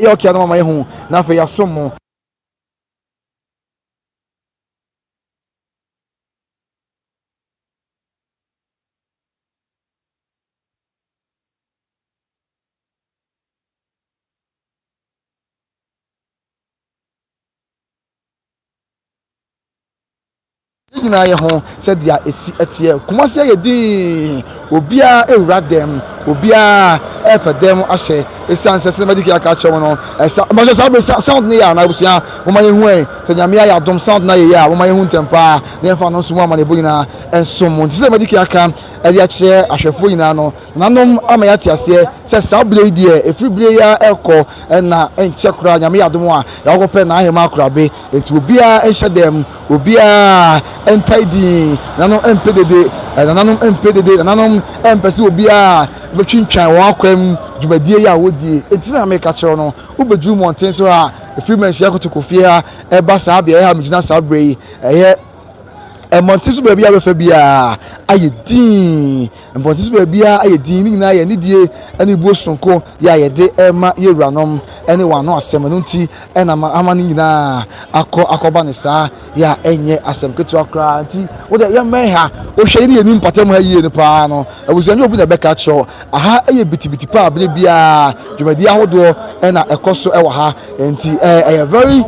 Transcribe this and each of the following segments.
Ɛyɛ ɔkea no ma mayɛ hu na afei yɛasom mo. Yɛn nyinaa yɛ ho sɛ deɛ ɛsi teɛ. Kumasi ayɛ dinn, obiara rewura dɛm, obiara repɛ dɛm ahyɛ ɛsiane sɛ sɛdeɛ madi kan aka akyerɛ mo no, ɛsa, mpakyɛ saa bere sound no yɛ anaa abusua, momma yɛnhu ɛ, sɛ Nyame ayɛ adom sound no ayɛ yie a, momma yɛnhu ntɛm paa na yɛmfa no nso mu amanneɛbɔ nyinaa nsom mo. Nti sɛdeɛ madi kan aka de akyerɛ ahwɛfoɔ nyinaa no, nananom ama yɛate aseɛ sɛ saa bere yi deɛ, ɛfiri bere yi ara rekɔ na ɛnkyɛ koraa Nyame yɛ adom a, yɛakɔpɛ N'ahemaa Akorabe. Enti obiara nhyɛ dɛm, obiara ntae din, nananom mpɛ dede, nananom mpɛ dede, nananom mpɛ sɛ obiara bɛtwintwan wɔn akwam dwumadie yi a wɔdie. Enti na meka kyerɛ wo no, wobɛduru mmɔnten so ha, firi Manhyia Kotokofie ha ba saa beaeɛ ha a megyina saa berɛ yi, ɛyɛ mmɔnten so baabi a wobɛfa biara ayɛ dinn. Mpɔnten so baabiara ayɛ dinn, ne nyinaa yɛ anidie ne buo sononko yɛ a yɛde rema yɛn wuranom ne wɔn ano asɛm, ɛno nti na ama ne nyinaa akɔ akɔba no saa yɛ a ɛnyɛ asɛm ketewa koraa, nti wo deɛ yɛmmɛn ha, wohwɛ yɛne yɛn mpɔtam ha yie no paa no abusua nyɛ obi na ɛbɛka akyerɛ wo, aha yɛ bitibiti paa berɛ biara dwumadie ahodoɔ na ɛkɔ so wɔ ha, nti ɛyɛ very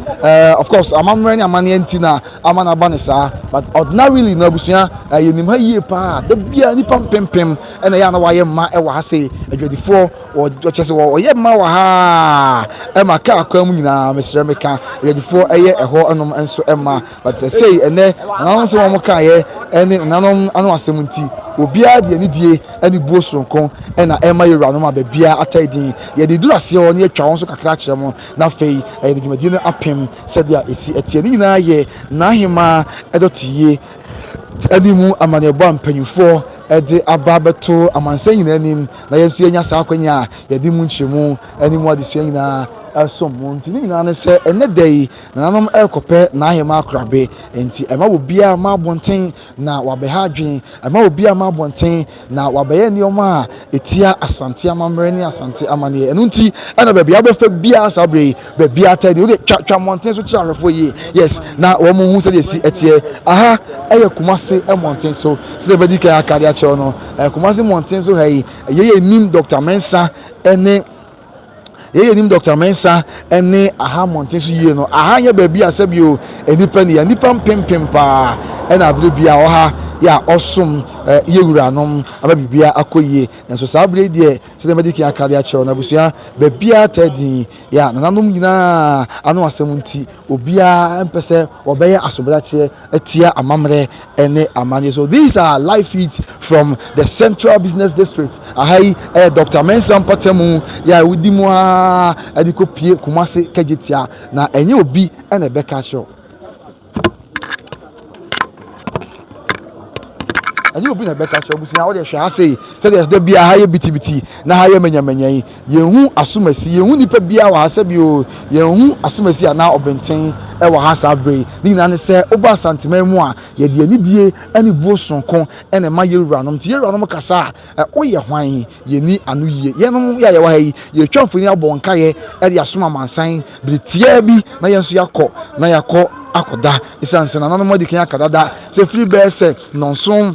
of course amammerɛ ne amanneɛ nti na. ama no aba no saa but ordinarily no abusua eh, yɛnim ha yie paa da biara nnipa mpempem ɛna ɛyɛ a na wɔayɛ mma ɛwɔ ha sei adwadifoɔ wɔkyɛ sɛ wɔyɛ mma wɔ ha ɛma kaa kwan mu nyinaa mesrɛ meka adwadifoɔ ɛyɛ ɛhɔ nom nso ɛma but sei ɛnɛ nananom sɛ wɔn kaeɛ ɛne nananom ano asɛm nti obiara deɛ ne die ɛne buo soronko ɛna ɛma yɛwuranom a baabiara atɛe din yɛde duru aseɛ hɔ ne yɛtwa wɔn so kakra kyerɛ mo na afei ɛyɛ ne dwumadie no apem sɛdeɛ ɛsi teɛ. Ne nyinaa yɛ n'ahemmaa dɔteyie ɛne mu amanneɛbɔ a mpanimfoɔ ɛde aba bɛto amansan nyinaa anim na yɛn nso yɛnya saa akwanya a yɛde mu nkyerɛmu ɛne mu adesua nyinaa ɛsom mu nti ne nyinaa ne sɛ ɛnɛ da yi nananom ɛrekɔpɛ n'ahemmaa korabe nti ɛma wɔ biara ma abɔnten na wɔabɛha adwene ama obi ama abɔnten na wɔabɛyɛ nneɛma a ɛtia Asante amammerɛ ne Asante amanneɛ. Ɛno nti ɛna baabi a wobɛfa biara saa berɛ yi, baabi a atɛn deɛ wode twa twa mmɔnten so kyerɛ ahwɛfoɔ yie. Yes, na wɔn mu hu sɛdeɛ ɛsi ɛteɛ. Aha ɛyɛ Kumase mmɔnten so sɛdeɛ ɛbɛdi kan aka de akyerɛ no. Kumase mmɔnten so ha yi, yɛyɛ nim Dɔkta Mensah ne Yɛn a yɛnim Dɔkta Mensah ne aha mmɔnten so yie no, aha nyɛ baabi a sɛbio nnipa ni a nnipa mpempem paa na abere bia wɔ ha yɛ a ɔsom eh, yɛ wuranom ama biribiara akɔ yie. Nanso saa abere yi deɛ sɛdeɛ madi kan aka de akyerɛw no abusua baabiara taa din yɛ a nananom nyinaa ano asɛm nti obiara mpɛ sɛ wɔbɛyɛ asobrakyeɛ tia amammerɛ ne amanneɛ so. These are live feeds from the Central Business District. Aha yi ɛyɛ Dr. Mensah mpatamu yɛ a wodi mu ara ɛde kɔ pie Kumasi Kagyetia na ɛnyɛ obi ɛna ɛbɛka akyerɛ ɛnyɛ obi na ɛbɛka akyerɛ busua wode hwɛ ha sei sɛdeɛ da bi aha yɛ bitibiti na ha yɛ manyamanya yi Yɛn hu asomasi, yɛn hu nipa biara wɔ ha sɛbi o, yɛn hu asomasi anaa ɔbenten wɔ ha saa berɛ yi. Ne nyinaa ne sɛ, woba Asanteman mu a, yɛde anidie ne buo sononko na ɛma yɛn wuranom. Nti yɛn wuranom kasa a, woyɛ hwan? Yɛnni ano yie. Yɛnom yɛ a yɛwɔ ha yi, yɛretwa mfoni abɔ nkaeɛ de asom amansan bere tiaa bi na yɛn nso yɛakɔ na yɛakɔ akɔda. Esiane sɛ nananom adi kan aka dada sɛ ɛfiri bɛyɛ sɛ nnɔnson,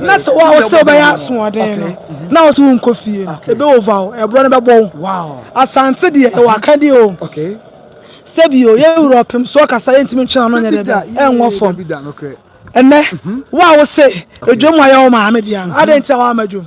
na sɛ wo a wo sɛ wobɛyɛ asoɔden no mhm. na wo so wonkɔ fie no ɛbɛova wo ɛborɔ no bɛbɔ wo asante deɛ ɛwɔ akadeɛ o sɛbio yɛwura ɔpem so ɔkasa yɛntumi ntwena no nyɛ dɛ bɛ ɛnwɔ fam ɛnɛ mhm. wo a wo se adwam ayɛ wo maame deɛ no adɛn nti a woama dwom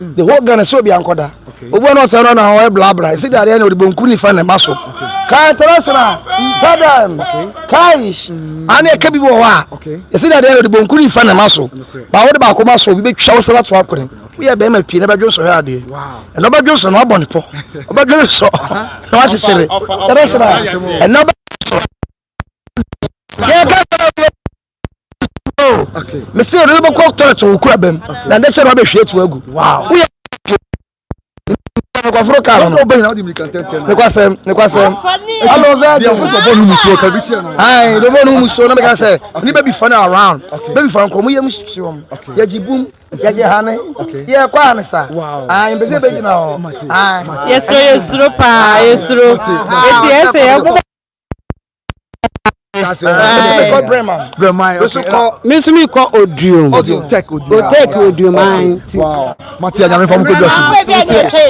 the whole ghana sɛ obi ankɔda obi ɔno ɔsɛ no na ɔyɛ blabla ɛsi dadeɛ na ɔde bonku nifa na ɛma so kaa international ntadam kais ane ɛka bi wɔ hɔ a ɛsi dadeɛ na ɔde bonku nifa na ɛma so ba wode baako ma so obi bɛtwa wo sɛ ato akone woyɛ bɛrima pii na bɛdwo nsɔ hwɛ adeɛ ɛna ɔbɛdwo nsɔ na wabɔ ne pɔ ɔbɛdwo nsɔ na wakyekyere international ɛna ɔbɛdwo nsɔ yɛka sɛ mese ɔde no bɛkɔ tɔlɛt wɔ kura bɛm na ne sɛ no abɛhwie atu agu woyɛ nkurɔforo ka no nokwasɛm nokwasɛm dɔbɔ no mu suo na meka sɛ ne bɛbi fa no around bɛbi fa nkɔmmɔ yɛ mu hyehyewɔm yɛgye bum yɛgye hane yɛkɔ a ne sa mpɛ sɛ bɛgyina hɔ yɛsuro yɛsuro paa yɛsuro ɛti ɛsɛ yɛbobɔ me nso mekɔ oduom otek oduom an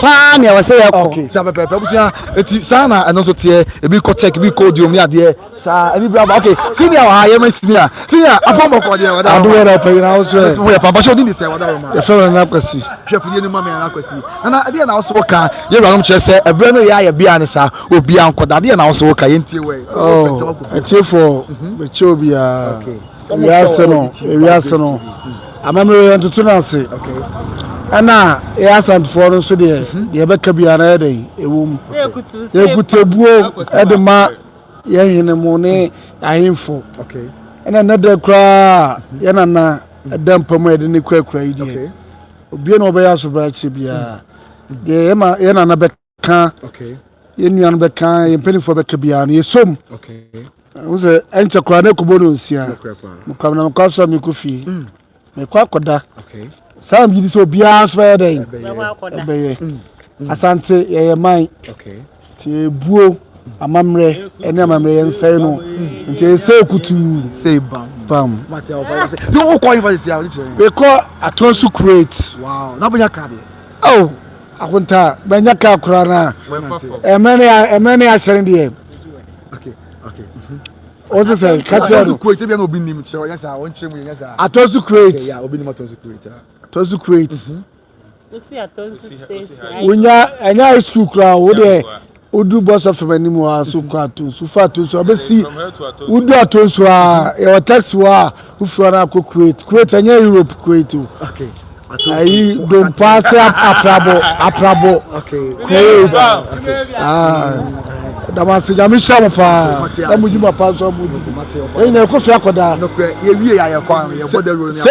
paa nea wɔ sɛ yɛkɔ saa na ɛno nso teɛ ebi kɔ tek ebi kɔ oduom ne adeɛ saa ɛne bi aba okay senior wɔ ha yɛma senior senior apam bɔkɔ deɛ wɔda ado yɛ na pɛyi na woso ɛ yɛ papa hyɛ odin de sɛ wɔda wɔma yɛfɛ wɔn na kwasi hwɛ fudie ne ma me na kwasi ɛna ɛdeɛ na woso wɔ ka yɛ wuranom kyerɛ sɛ ɛberɛ no yɛ ayɛ bia ne saa Obia nkɔ da adeɛ na wo so wo ka yɛn tie wɔ yi. Oh, atiefoɔ mhm. mekyɛ obiara. Ewiase no, ewiase no. Mhm. Amammerɛ yɛn toto no ase. Ɛna yɛ asantefoɔ no nso deɛ mhm. deɛ ɛbɛka biara na yɛ dɛ ɛwɔ mu. Yɛkutebuo ɛde ma yɛn hene mu ne ahemfo. Ɛna nnɛ dɛ koraa yɛn nana ɛda mpa mu a yɛde ne kurakura yi deɛ. Obie na ɔbɛyɛ asobrakye biara. Deɛ yɛn nana bɛka. ka yɛn nua no bɛka yɛn mpanimfoɔ bɛka biara no yɛsɔ mu wo sɛ ɛnkyɛ koraa na ɛkɔbɔ no nsia mekwam na mekɔ asɔ mekɔ fie mm. mekɔ akɔda saa mgye di sɛ obiara nso bɛyɛ dɛn ɛbɛyɛ mm. Mm. asante yɛyɛ man nti ɛbuo amammerɛ ɛne amammerɛ yɛ nsɛe no nti ɛsɛ kutuu sɛ bam mekɔ atɔ so kuret oh Akontaa bɛnya kaa koraa na ɛmɛ ne ahyɛn deɛ o ti sɛ kakyɛ no atɔsu kuwait atɔsu kuwait wonya ɛnyɛ high school koraa o deɛ. Wodu bɔsɔ fam anim hɔ ara so kɔ Atonsu, wofi Atonsu a wobɛsi wodu Atonsu a yɛwɔ taxi hɔ a wofiri hɔ no akɔ Kuwait. Kuwait ɛnyɛ Europe Kuwait o. Ayi Dompa ase aprabɔ aprabɔ Kuwait. Ɛda mo ase nyame hyira mo paa na mo dwuma paa nso a mo di. Ɛnyina ɛkɔ fie akɔda. Nokorɛ yɛwie yɛ ayɛ kwan yɛbɔ dawuro ne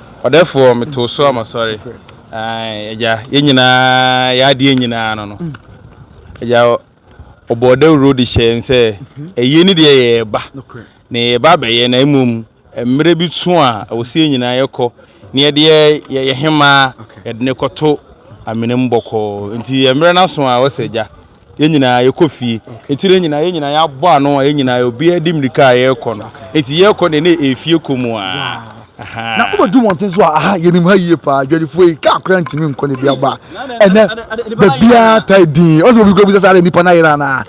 Ɔdɛfoɔ, metoo so a masɔre. Ae, Agya, yɛn nyinaa, yɛn adeɛ nyinaa no no. Agya, Ɔbɔɔ dawuro de hyɛɛ yɛn sɛ, Ayie ne deɛ yɛreba, na yɛreba abɛyɛ, na mmom mmerɛ bi so a ɛwɔ sɛ yɛn nyinaa yɛkɔ na yɛde yɛn yɛn hemaa, yɛde no rekɔto amena mu bɔkɔɔ. Enti mmerɛ no aso a, ɛwɔ sɛ, Agya, Yɛn nyinaa yɛkɔ fie. Nti dɛ nyinaa yɛn nyinaa yɛabɔ ano a yɛn nyinaa obiara de mirika a yɛrekɔ no. Nti yɛrekɔ no deɛ na ɛyɛ fie kɔ mu ara. Ahaa. Na wobɛdu mmɔnten so a, ahaa, yɛnim ha yie paa, Dwadifoɔ yi, kaa koraa ntumi nkɔ na ebi aba a, ɛnnɛ baabiara taa dinn. Ɔsɛ obi koraa bisa sɛ adɛn nnipa no ayera anaa?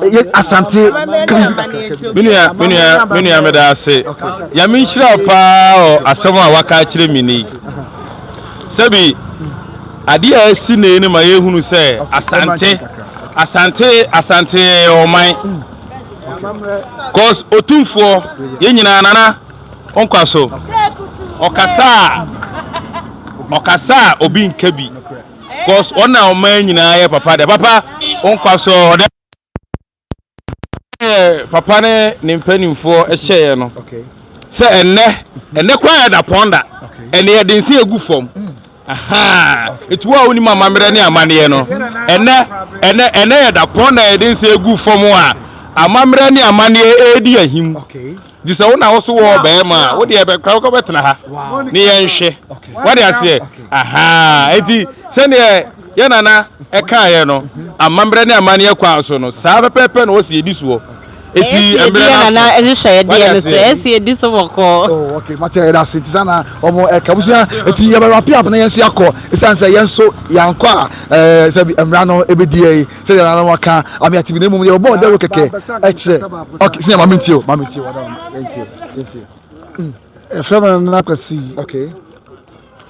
Yɛ Asante ka biribi kakra ka bi. Me nua, me nua, me nua meda ase. Nyame nhyira wo paa wɔ asɛm a woaka akyerɛ me nnɛ yi. Sɛbi, adeɛ a asi nnɛ yi no ma yɛhunu sɛ Asante, Asante, Asante yɛ yɛn ɔman. Cause Otumfoɔ, yɛn nyinaa Nana Onkwaso, ɔkasa a, ɔkasa a obi nka bi. Cause ɔna ɔman nyinaa yɛ papa deɛ. Papa Onkwaso, ɔdɛ. Sɛdeɛ papa ne ne mpanimfoɔ hyɛeɛ no sɛ ɛnnɛ ɛnnɛ koraa yɛ dapɔn da ɛne yɛde nsa egu fam ahaa eti wo a wonim amammerɛ ne amanneɛ no ɛnnɛ ɛnnɛ ɛnnɛ yɛ dapɔn da yɛde nsa egu fam a amammerɛ ne amanneɛ ɛredi ahim. Gye sɛ wo na wo so wɔ ɔbarima a, wo deɛ bɛkora wokɔ bɛtena ha ne yɛnhwɛ. Wade aseɛ? Ahaa. Enti sɛdeɛ yɛn nana ɛkaeɛ no, amammerɛ ne amanneɛ kwan so no, saa pɛpɛɛpɛ na ɔsi ɛdi soɔ. Eti Ɛyɛ si ɛdi mmerɛ yɛ no aso. nana ɛhyehyɛ ɛdeɛ Wade no so. aseɛ? Ɛyɛ si ɛdi so bɔkɔɔ. Oh, okay, mate yɛda ase nti saa na ɔmo ɛka abusua nti yɛbɛ wrap up na yɛn nso yɛakɔ esiane sɛ yɛn nso yɛankɔ a ɛɛ sɛbi mmara no ebedi yɛn. sɛdeɛ nana no aka ame ate bi na mmom deɛ wɔbɔɔ dawuro kɛkɛ kyerɛ ok sɛ maame ntie o maame ntie o ntie o ntie ɛfrɛ me nana kwasi ok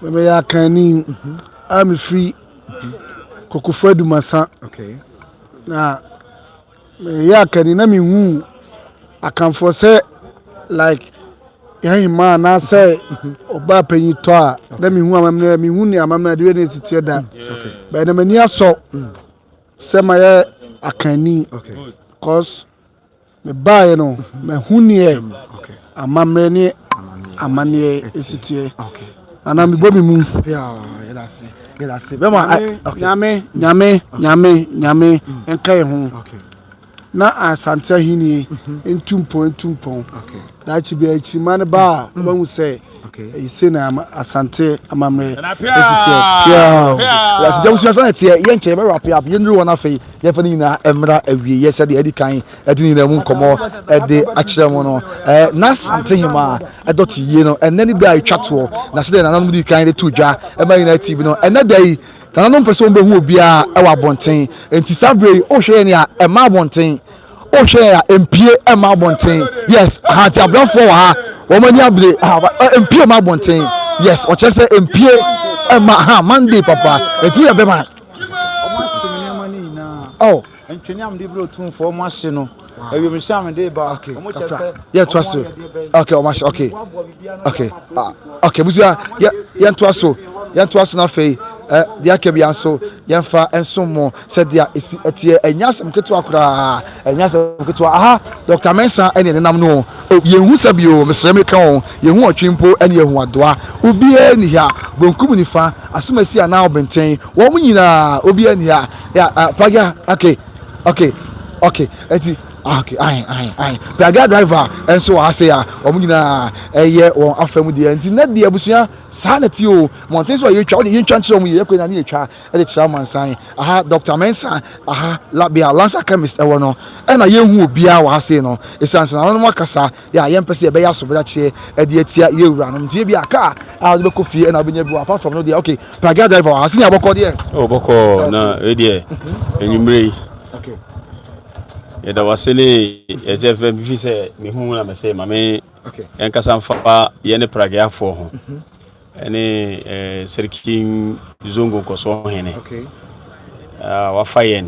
memeyɛ akanni mhm. a mefiri mhm. kokofo adumasa na meyɛ akanni na mehu akanfoɔ sɛ like Yɛahemaa anaasɛ ɔbaa panyin tɔ a, na mehu amammerɛ a mehu ne amammerɛ a deɛ ne si teɛ da. Bɛyɛ na m'ani asɔ sɛ mayɛ akanni. Cause mebaeɛ no, mahu neɛ amammerɛ ne amanneɛ si teɛ. Nana mebɔ me mu. Nyame, nyame, nyame, nyame, nyame nka yɛn ho. Na Asante ahenni ntu mpɔn ntu mpɔn. Daakye biara nkyirimma no ba a, wobɛhu sɛ ɛyɛ sei na Asante amammerɛ si teɛ. Piaas. Yɛase gya wusua sɛnea ɛteɛ. Yɛ nkyɛ yɛbɛwrap yɛ up. Yɛnnuru hɔ no afei yɛmfa ne nyinaa mmra awieeɛ sɛdeɛ adi kan ɛde ne nyinaa mu nkɔmmɔ ɛde akyerɛ mo no. Ɛɛ na Asante hema a ɛdɔte yie no ɛnɛ ne da a ɛtwa toɔ na sɛdeɛ nananom dii kan de too dwa ɛma yɛn nyinaa ti bi no ɛnɛ da yi Nananom mpɛ sɛ wɔbɛhu obiara wɔ abɔnten, enti saa berɛ yi, wohwɛ yɛn a, ɛmma abɔnten. Wohwɛ yɛn a, ɛmpie mma abɔnten. Yes, aha nti abrɛfoɔ wɔ ha, wɔn ani abere, ɛmpie mma abɔnten. Yes, wɔkyerɛ sɛ ɛmpie mma, ha, Monday papa, enti woyɛ bɛma. Oh. Ntwene a mede brɛ otumfoɔ mo ahye no awiemhyɛ a mede ba okay ɔmo kyerɛ sɛ yɛ to aso okay ɔmo ahye okay okay ah, okay busua yɛ yɛn to aso yɛn to aso na afei eh, deɛ aka bia nso yɛmfa nsom mo sɛdeɛ ɛsi ɛteɛ ɛnyɛ asɛm ketewa koraa ɛnyɛ asɛm ketewa aha dr mensa ɛne nenam no yɛhu sɛ bio mesrɛ me ka ho yɛhu ɔtwe mpo ɛne yɛhu adoa obiara ni ha bonkum nifa asomasi anaa ɔbenten wɔn nyinaa obiara ni ha Ya, ah, Pragya, okay, okay, okay, eti, ah, okay, ahe, ahe, ahe. Pragya driver nso wɔ ha se a, wɔn nyinaa ɛyɛ wɔn afa mu deɛ, nti nɛ deɛ abusua saa na ti o, mmɔnten so a yɛtwa, wɔde yɛntwa nkyerɛ wɔn yɛyɛ kɔ nyinaa ne yɛtwa ɛde kyerɛ amansan, aha Doctor Mensah, aha, la, bea Lancer Chemist ɛwɔ no, ɛna yɛnhu obiara wɔ ha sei no, esiane sɛ nananom akasa, yɛ a yɛmpɛ sɛ yɛbɛyɛ asobrakyeɛ de atia yɛ wuranom nti ebi a car a wode bɛkɔ fie ɛna wobɛnya bi wɔ apart from no deɛ okay pagia driver wɔ ha sini abɔkɔ deɛ ɛwɔ bɔkɔ na ɛdeɛ anwummerɛ yi yɛda wase ne yɛkyɛ fɛ bifi sɛ mehu na mɛsɛ ma me ɛnkasa mfa yɛ ne pragiafoɔ ho ɛne sɛrikin zongo nkɔsoɔ hene wafa yɛn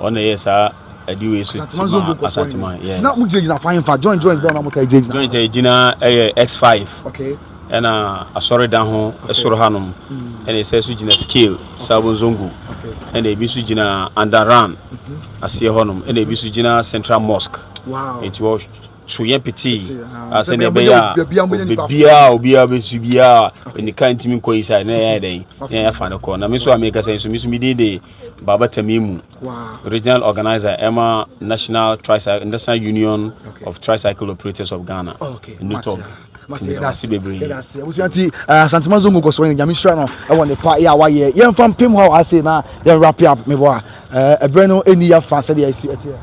Wɔn na ɛyɛ saa adi wei so ti ma Asanteman. Yes. Na mo gyinagyina fan fa joint joint bɛn na mo ta gyinagyina. Joint a gyina ɛyɛ X5. Okay. Ɛna asɔredan ho ɛsoro hanom. Ɛna ɛsɛ so gyina scale Sabon Zongo. Okay. Ɛna ebi so gyina Andaran aseɛ hɔnom. Ɛna ebi so gyina Central Mosque. Wow. Eti wɔ so yɛ petee asɛ na ɛbɛyɛ a obiara obiara bɛsu biara ne ka ntumi nkɔ yi saa na ɛyɛ dɛn na ɛyɛ fa no kɔ na me nso a mekasa yi nso me nso medin de Babatami mu Regional Organiser ɛma National Tricycle National Union of Tricycle Operators of Ghana, NUTOG. Yɛdase bebree. Yɛdase. Abusua nti eh, Asantuma Zongo kɔ so yɛ nyame hyira no ɛwɔ ne pa yɛ a wayɛ. Yɛmfa mpem hɔ a ase na yɛn wrap up mebɔ a eh, ɛberɛ no ɛni yɛ fa sɛdeɛ ɛsi ɛteɛ.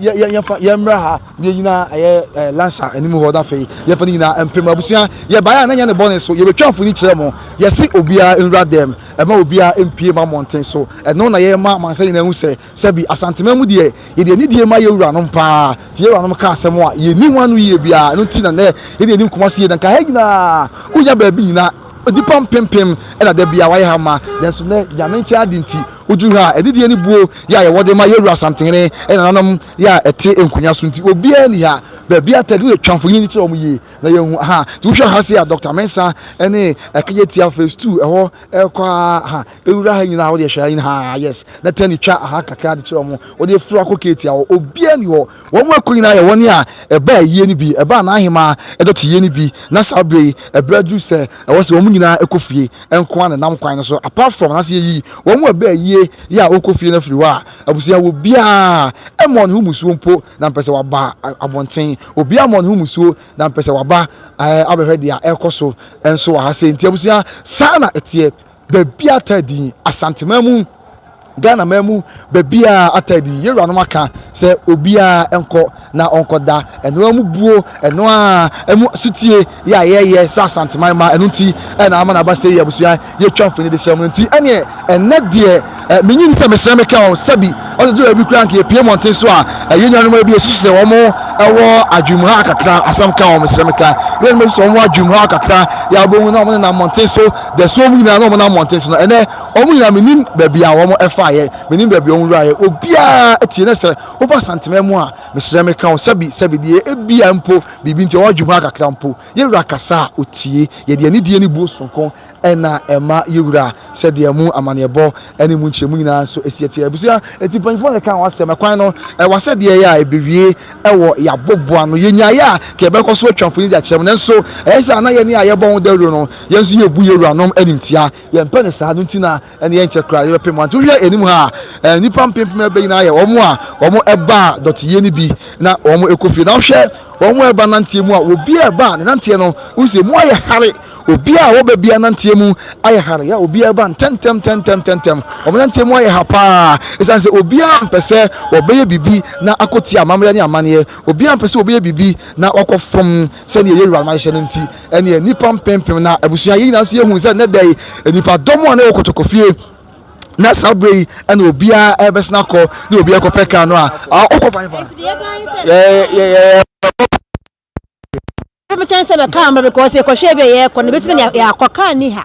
yɛ yɛ yɛfa yɛmmra ha yɛ nyinaa ɛyɛ ɛɛ lansa anim hɔ na afei yɛfa ne nyinaa mpem abusua yɛbaeɛ a na nyɛ ne bɔne so yɛbɛtwa mfoni kyerɛ mo yɛse obiara nwura dɛm ɛma obiara mpie ma mmɔnten so ɛno na yɛma amansa nyinaa hu sɛ sɛbi asantema mu deɛ yɛde anidie ma yɛ wuranom paa nti yɛ wuranom ka asɛm a yɛni ho ano yie biara ɛno nti na nɛ yɛde anim kɔma se yɛ na nka ha nyinaa wonya baabi nyinaa nipa mpempem ɛna da bia wayɛ ha ma nanso nɛ nyame nkyɛn ade nti Odu ha a, adidie ne buo yɛ a yɛwɔ de ma yɛn wura Asantehene nananom yɛ a ɛte nkonya so nti obiara nni ha. Baabi a tɛd woyɛ twa mfonini kyerɛ wɔn yie na yɛahu ha. Nti wohwɛ ha sei a, Dɔkta Mensah ne Ɛkegyetia Phase Two ɛhɔ rekɔ ara ha. Wura ha nyinaa a wodeɛ hwɛ ha nyinaa yes na tɛn twa ha kakra de kyerɛ wɔn. Wodeɛ firi hɔ akɔ Keeti a hɔ obiara nni hɔ. Wɔn mu akuw nyinaa yɛ wɔn a ɛbaa ayie no bi, ɛbaa n'ahemaa dɔteyɛ no bi, na saa berɛ yi ɛberɛ aduru sɛ ɛwɔ sɛ wɔn mu nyinaa kɔ fie nko ara na ɛnam kwan no so, apart from, anaasɛ yɛyi wɔn mu a ɛbaa ayie yɛ a wɔkɔ fie no afiri hɔ a, abusua wɔ biara mmɔɔ ne ho mmusuo mpo na mpɛ sɛ wɔba abɔnten, obiara mmɔɔ ne ho mmusuo na mpɛ sɛ wɔba abɛhwɛ deɛ ɛrekɔ so nso wɔ ha sei, nti abusua saa na ɛteɛ. Baabi a taa din, Asante man mu, Ghana man mu, baabi a ata din, yɛn wuranom aka sɛ obiara nkɔ na ɔnkɔda ɛnoa mu buo, ɛnoa a ɛmu sutie yɛ a yɛyɛ sɛ Asante man ma ɛno nti ɛna ama n'aba sɛ yɛ abusua yɛtwa mfoni de hyɛ mu nti ɛneɛ ɛnɛ deɛ Eh, menyi ni sɛ mesrɛ me ka o, sɛbi ɔsɛ gye baabi koraa nka yɛpie mmɔnten so a ɛyɛ nnuanom a bi ɛsusu sɛ wɔn ɛwɔ adwene mu ha kakra asɛm ka wɔn mesrɛ me ka yɛn mu ɛsusu wɔn adwene mu ha kakra yɛ abɔhu na wɔn nenam mmɔnten so dɛso wɔn nyinaa na wɔn nam mmɔnten so no ɛnɛ wɔn nyinaa menim baabi a wɔn ɛfa yɛ menim baabi wɔn wura yɛ obiara ɛtie ne sɛ woba santemɛ mu a mesrɛ me ka o sɛbi sɛbi deɛ ebia mpo biribi nti wɔn adwene mu ha kakra mpo yɛwura kasa a otie yɛde anidie ne buo soronko na ɛma yewura sɛdeɛ emu amanneɛbɔ ne emu nkyerɛmu nyinaa nso si teɛ. Abusua nti mpanyinfoɔ na ɛka ho asɛm. Ɛkwan no, ɛwɔ asɛdeɛ yɛ a ɛbɛwie wɔ yɛabobo ano. Yɛnya yɛ a, nka yɛbɛkɔ so atwa mfoni de akyerɛ mo, nanso ɛyɛ sɛ a na yɛne a yɛbɔ ho dawuro no, yɛn nso yɛbu yɛn wuranom animtia. Yɛmpɛ no saa, ɛno nti na. Ɛnna ɛnkyɛ koraa yɛbɛpem wɔn. Nti wohwɛ anim ha a, nnipa mpempem abɛyi na ayɛ wɔn a wɔba dɔteyɛ no bi na wɔkɔ fie. Na wohwɛ wɔn a ɛba nanteɛ mu a, obi a ɛba ne nanteɛ no, wohu sɛ mu ayɛ hare. Obi a wɔba bi ananteɛ mu ayɛ hare. Yɛ obi a ɛba ntɛntɛm ntɛntɛm ntɛntɛm. Wɔn nanteɛ mu ayɛ ha paa. Ɛsiane sɛ obiara mpɛ sɛ wɔbɛyɛ biribi na akɔtie amammerɛ ne amanneɛ. Obiara mpɛ sɛ wɔbɛyɛ biribi na wɔakɔ fam sɛdeɛ yɛn wuranom ahyehyɛ no nti. ɛnneɛ nnipa mpempem na abusua yɛ nyinaa nso yɛhu sɛ nnɛ da yi nnipa dɔm a na ɛwɔ kotokofie na saa berɛ yi ɛna obiara ɛbɛsena akɔ ne obiara kɔpɛ kaa no a ɔkɔ fan fa bɛkyɛn sɛ bɛkaa mmerɛ because yɛkɔhwɛ bi a yɛkɔ no bɛsi ne yɛakɔ kaa ni ha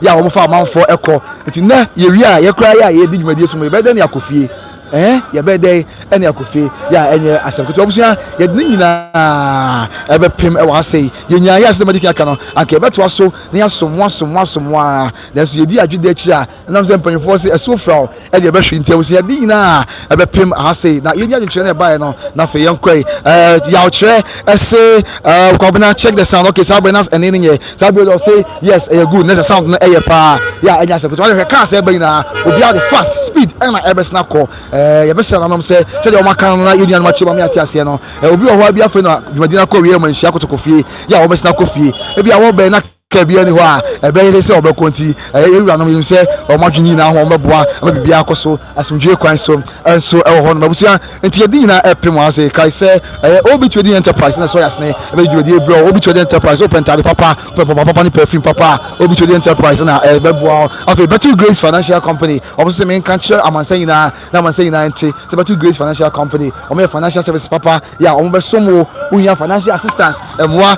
yɛ a wɔfa amanfoɔ ɛkɔ nti nɛ yɛwie a yɛkora yɛ a yɛdi dwumadie so mu yɛbɛyɛ dɛn ne akɔ fie ɛɛ yɛbɛyɛ dɛn ɛne akɔ fie yɛ a ɛnyɛ asɛm ketewa abusua yɛde ne nyinaa ɛbɛpem ɛwɔ ha sɛi yɛnyaa yɛ asɛm adi kan aka no anka yɛbɛtoa so na yɛasom mo asom mo asom mo a nanso yɛdi adwede akyiri a nam sɛ mpanyinfoɔ se ɛso fira o ɛde ɛbɛhwe nti abusuade nyinaa ɛbɛpem aha sei na yɛnya adwenkyerɛ no ɛbaeɛ no na afei yɛnkɔe eh, yawkyerɛ ɛse eh, kwabena check the sound okay saa bɛn na ɛne no nyɛ saa bi ɔdɔ say yes ɛyɛ good na sɛ sound no ɛyɛ paa yɛ a ɛnya sɛ koto wahwɛ kaa sɛ ɛbɛ nyinaa obiara de fast speed ɛna ɛbɛsena kɔ eh, yɛbɛsɛ nanom sɛ sɛdeɛ wɔn aka no na yɛn nuanom akyerɛ wɔn ate aseɛ no eh, obi wɔ hɔ bi afei na dwumadina kɔ wie ma nhyia kotokɔ fie yɛ a wɔbɛsena kɔ fie ebi a wɔbɛn na Ka biara nni hɔ a ɛbɛyɛ he sɛ wɔbɛkɔ nti, ɛyɛ yɛn wuranom yinom sɛ wɔn adwene nyinaa ho a wɔbɛboa ma biribiara akɔ so asomdwie kwan so nso wɔ hɔnom. Abusua nti yɛde nyinaa ɛpem wɔn ase. Kae sɛ ɛyɛ OB Trading Enterprise na ɛsɔ yɛn asene bɛde dwumadie rebrɛ wo. OB Trading Enterprise, wopɛ ntaade papa, wopɛ mpaboa papa ne perfume papa a, OB Trading Enterprise na ɛbɛboa wo. Afei Battle Grace Financial Company, wɔn nso se menka nkyerɛ amansan nyinaa na amansan nyinaa nte sɛ Battle Grace Financial Company, wɔyɛ financial services papa yɛ a wɔbɛsom wo wohia financial assistance mmoa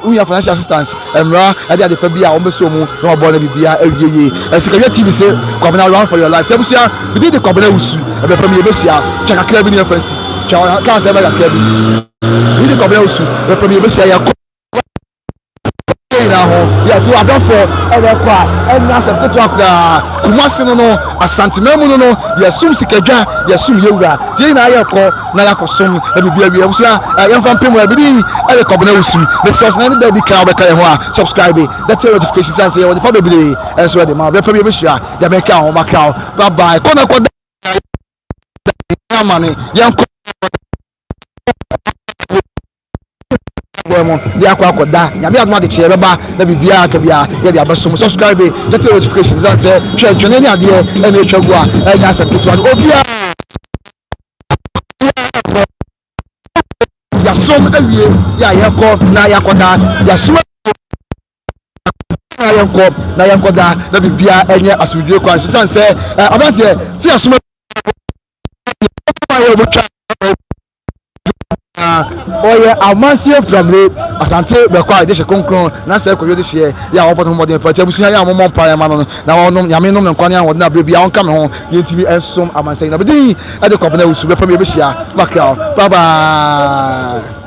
wohia financial assistance mmara ɛde adepa bi a wɔbɛsɔ mu na wɔbɔ no biribiara awie yie ɛsikawia tv se kwabena run for your life tɛ abusua bidi de kwabena wusu ɛbɛfam yɛ bɛhyia twa kakra bi ne yɛmfa nsi twa kaa sɛ ɛbɛ kakra bi bidi de kwabena wusu ɛbɛfam yɛ bɛhyia yɛ kɔ yɛn nyinaa ho yɛto adɔfoɔ ɛrɛkɔ a ɛnyɛ asɛm ketewa koraa kumase no no asanteman mu no no yɛsom sikadwa yɛsom yɛwura nti yɛn nyinaa yɛkɔ na yɛakɔsom na biribi awie abusua yɛmfa mpem a bidi ɛyɛ kɔbena wusu ne sɛ ɔsena ne da di kan wobɛka yɛn ho a subscribe dɛte notification sane sɛ yɛwɔ nipa bebree ɛnso ɛde ma bɛpɛ bi yɛbɛhyia yɛbɛka ho maka ho bye bye kɔ na kɔ da amane yɛnkɔ bɔ mu de akɔ akɔda nyame adom adekyeɛ bɛba na biribiaa aka biaa yɛde abɛso mu subscribe yɛte notification sane sɛ twɛntwɛne ne adeɛ ɛna ɛtwa gu a ɛnyɛ asɛm ketewa no obiaa yɛasom awie yɛ a yɛkɔ na yɛakɔda yɛasom na yɛnkɔ na yɛnkɔda na biribiaa ɛnyɛ asomdwie kwan so sane sɛ aberanteɛ sɛ yɛasom na ɔyɛ amansie mframre asante bɛkɔ a dehye kronkron na sɛ ɛkɔyɛ dehyeɛ yɛ a wɔbɔ ne ho mmɔden paa nti abusua yɛ a wɔmmɔ mpaeɛ ma no na ɔnom nyame nom ne nkwa ne ahoɔden aberɛ bi a ɔnka me ho deɛ ntimi ɛnsom amansɛ nyina bɛdin ɛde kɔ abena wusu bɛpɛ me yɛbɛhyia makra bye bye